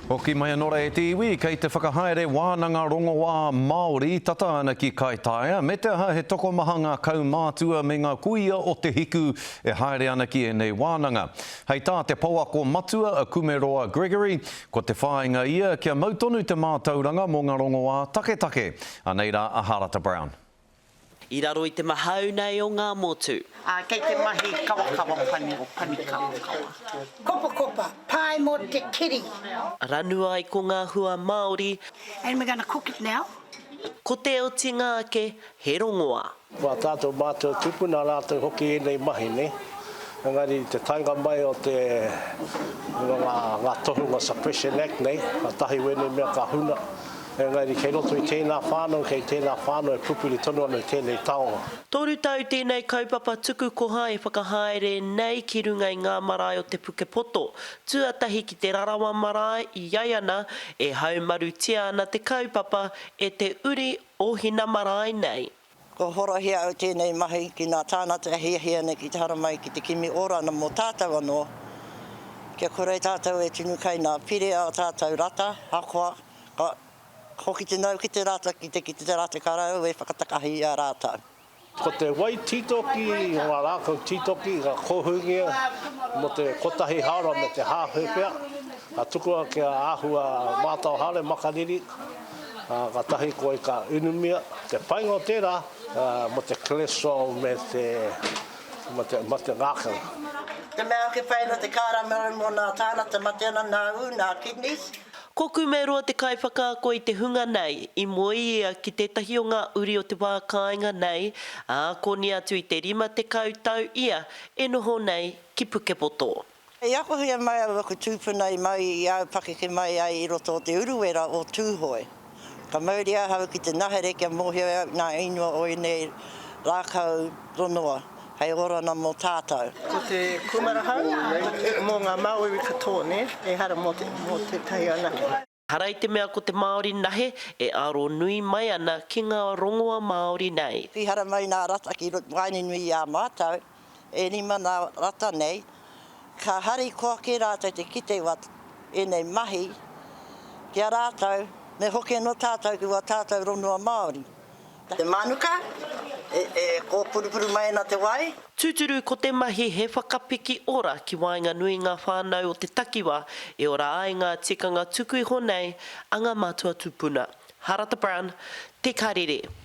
Hoki mai anō rā e te iwi kei te whakahaere wānanga rongoā Māori tata ana ki Kaitaia, me te aha he tokomaha ngā kaumātua me ngā kuia o Te Hiku e haere ana ki ēnei wānanga. Hei tā te pouako matua a Kumeroa Gregory, ko te whāinga ia kia mau tonu te mātauranga mō ngā rongoā taketake, anei rā a Harata Brown. I raro i te mahau nei o ngā motu. Ā, kei te mahi kawakawa pani o Panikawakawa. Kopakopa, pae mō te kiri. Ranu ai ko ngā hua Māori. And we're gonna cook it now. Ko te otinga ake, he rongoa. Wā tātou mātou tūpuna rātou hoki ēnei mahi nei, engari i te taenga mai o te ngā tohunga Suppression Act nei, kātahi wēnei mea ka huna, Engari kei roto i tēnā whānau, kei tēnā whānau e pupuri tonu ana i tēnei taonga. Toru tau tēnei kaupapa tuku koha e whakahaere nei ki runga i ngā marae o te Pukepoto, tuatahi ki Te Rarawa marae i ai ana e haumarutia ana te kaupapa e te uri o hina marae nei. Kua horahia au tēnei mahi ki nā tānata e hiahia ana ki te haramai ki te kimi ora ana mō tātou anō, kia kore e tātou e tunu kai nā Pire ā tātou rata, ahakoa ka hoki te nau ki te rata ki te kite te rata ka raru e whakatakahi i a rātou. Ko te wai tītoki o ngā rākau tītoki i ngā kōhūngia mō te kotahi hāora me te hāhepea, ka tukua kia āhua mātao haere makariri, Katahi koe ka inumia te painga o tera mo te cholesterol me te ma te ngakau. Te mea ake whai no te kara maru mo na tana te mate ana na u na kidneys. Ko Kumeroa te kaiwhakaako i te hunga nei, i moe ia ki tētahi o ngā uri o te wā kāinga nei, ā, koni atu i te rima tekau tau ia e noho nei ki Pukepoto. I akohia mai au aku tūpuna i mau i au pakeke mai ai i roto o Te Uruwera o Tūhoe. Ka mauria ahau ki te nahere kia mōhio au ngā ingoa o ēnei rākau tonoa hei orana mō tātau. Ko te kūmara hau mō ngā Māori katoa, nē, ehara mō tētahi anake. Hara i te mea ko te Māori nahe e aro nui mai ana ki ngā rongoa Māori nei. Pihara mai nā rata ki waenganui i a mātou e rima nā rata nei, ka harikoa kē rātou te kite wā ēnei mahi ki a rātou, me hoki anō tātou ki wā tātou rongoa Māori. Te mānuka e kōpurupuru mai ana te wai. Tūturu ko te mahi he whakapiki ora ki waenganui ngā whānau o te takiwā e ora ai ngā tikanga tuku iho nei a ngā mātua tūpuna. Harata Brown, Te Karere.